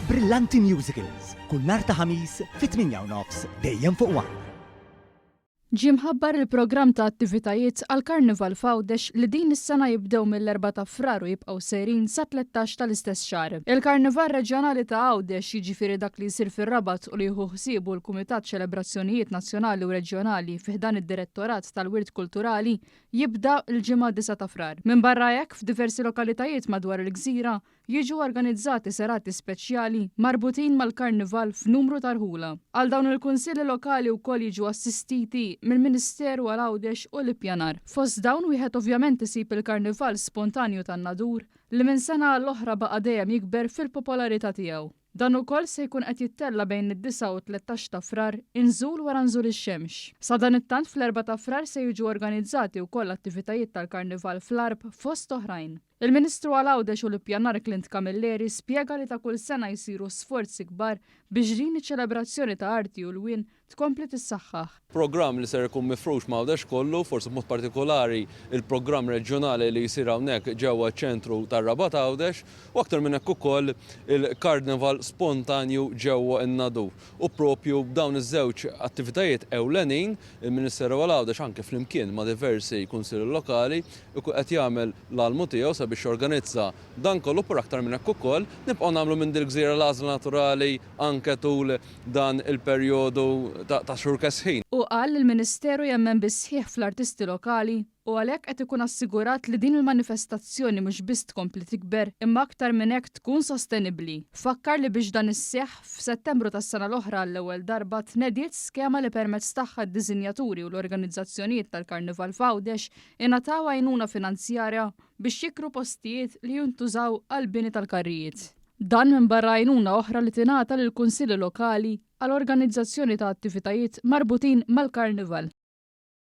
Brillanti Musicals, kull nhar ta' Ħamis fit-tmienja u nofs, dejjem fuq one. Ġie mħabbar il-programm ta' attivitajiet għall-Karnival f'Għawdex li din is-sena jibdew mill-Erbgħa ta' Frar u jibqgħu sejrin sat-tlettax tal-istess xahar. Il-Karnival Reġjonali ta' Għawdex, jiġifieri dak li jsir fir-Rabat u li jieħu ħsiebu l-Kumitat Ċelebrazzjonijiet Nazzjonali u Reġjonali fi ħdan id-Direttorat tal-Wirt Kulturali, jibda l-Ġimgħa 9 ta' Frar. Minbarra hekk, f'diversi lokalitajiet madwar il-gżira, Jiġu organizzati serati speċjali marbutin mal-Karnival f'numru ta' rħula. Għal dawn il-Kunsilli Lokali wkoll jiġu assistiti mill-Ministeru għal Għawdex u l-Ippjanar. Fost dawn wieħed ovvjament isib il-Karnival spontanju tan-Nadur li minn sena għal oħra baqa' dejjem jikber fil-popolarità tiegħu. Dan ukoll se jkun qed jittella' bejn id-disgħa u t-tlettax ta' Frar, inżul wara nżul ix-xemx. Sadanittant fl-erbgħa ta' Frar se jiġu organizzati wkoll attivitajiet tal-Karnival fl-Għarb fost oħrajn. Il-Ministru għal Għawdex u l-Ippjanar Clint Camilleri spjega li ta' kull sena jsiru sforzi kbar biex din iċ-ċelebrazzjoni ta' arti u lwien tkompli tissaħħaħ. Programm li ser ikun mifrux m'Għawdex kollu, forsi b'mod partikolari il-programm reġjonali li jsir hawnhekk ġewwa ċ-ċentru tar-Rabat Għawdex u aktar minn hekk ukoll il-Karnival spontanju ġewwa n-Nadur. U proprju b'dawn iż-żewġ attivitajiet ewlenin, il-Ministeru għal Għawdex anke flimkien ma' diversi Kunsilli Lokali jkun qed jagħmel l-almu tiegħu sabiex jorganizza dan kollu però aktar minn hekk ukoll nibqgħu nagħmlu minn dil-gżira l-għażla naturali anke tul dan il-perjodu ta' xhur kesħin. Hu qal li l-Ministeru jemmen bis-sħiħ fl-artisti lokali u għalhekk qed ikun assigurat li din il-manifestazzjoni mhux biss tkompli tikber imma aktar minn hekk tkun sostenibbli. Fakkar li biex dan isseħħ, f'Settembru tas-sena l-oħra għall-ewwel darba tnediet skema li permezz tagħha d-diżinjaturi u l-organizzazzjonijiet tal-Karnival f'Għawdex ingħataw għajnuna finanzjarja biex jikru postijiet li jintużaw għall-bini tal-karrijiet. Dan minbarra għajnuna oħra li tingħata lill-Kunsilli Lokali għal organizzazzjoni ta' attivitajiet marbutin mal-Karnival.